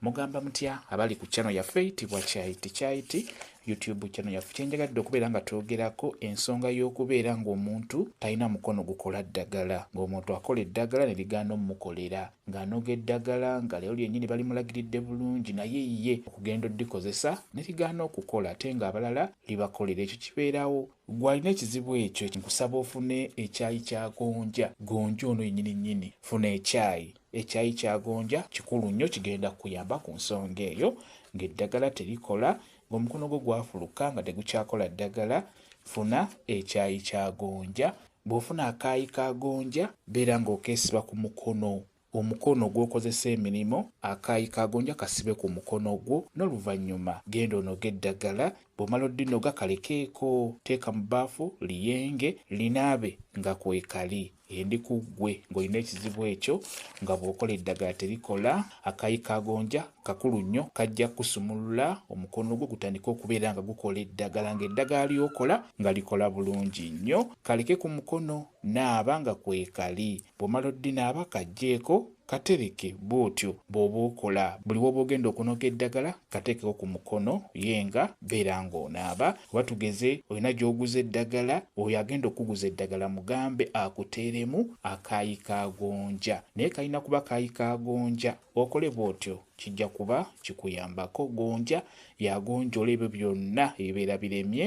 Mugamba mutya abali ku channel yaffe tibwa chai tichaiti YouTube channel yaffe kyenjagadde okubeera nga twogerako ensonga y'okubeera ng'omuntu talina mukono gukola ddagala ng'omuntu akola eddagala ne ligaana omukolera ng'anoga eddagala nga lero lyennyini balimulagiridde bulungi naye ye okugenda oddikozesa ne ligaana okukola ate ng'abalala libakolera ekyo kibeerawo gwalina ekizibu ekyo nkusaba ofune ekyayi kya gonja gonja ono yennyini nnyini funa ekyayi Ekyayi kya gonja kikulu nnyo kigenda kukuyamba ku nsonga eyo. Ng'eddagala terikola, ng'omukono gwo gwafuluka nga tegukyakola ddagala, funa ekyayi kya gonja. Bw'ofuna akaayi ka gonja beera ng'okeesiba ku mukono. Omukono gw'okozesa emirimu, akaayi ka gonja kasibe ku mukono gwo n'oluvannyuma genda onoge eddagala. Bw'omala oddinoga kalekeeko. Teeka mu bbaafu liyenge, linaabe nga kwekali. endi ku ggwe ng'olina ekizibu ekyo nga bw'okola eddagala terikola akayi ka gonja kakulu nnyo kajja kukusumulula omukono gwo gutandike okubeera nga gukola eddagala ng'eddagala ly'okola nga likola bulungi nnyo kaleke ku mukono naaba nga kwekali bw'omala oddinaaba kajjeeko Katereke bwotyo bwoba okola. Buli woba ogenda okunoga eddagala katekeko ku mukono ye nga beera nga onaaba. Oba tugeze olina gyoguza eddagala, oyo agenda okukuguza eddagala mugambe akuteeremu akaayi ka gonja. Naye kalina kuba kaayi ka gonja. Okole bwotyo kijja kuba kikuyambako. Gonja yagonjola ebyo byonna ebibeera biremye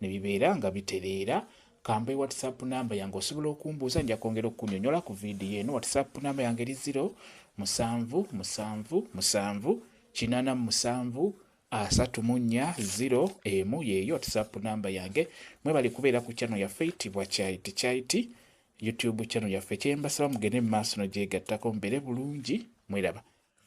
ne bibeera nga bitereera Kampe WhatsApp namba yange osobola okumbuuza nja kwongera okukunyonyola ku vidiyo eno. WhatsApp namba yange eri ziro musanvu musanvu musanvu kinana musanvu asatu mu nnya ziro emu yeeyo WhatsApp namba yange. Mwebale kubeera ku channel yaffe eyitibwa Kyayiti Kyayiti YouTube channel yaffe. Kyembasaba mugende mu maaso no gyegattako mbeere bulungi mweraba.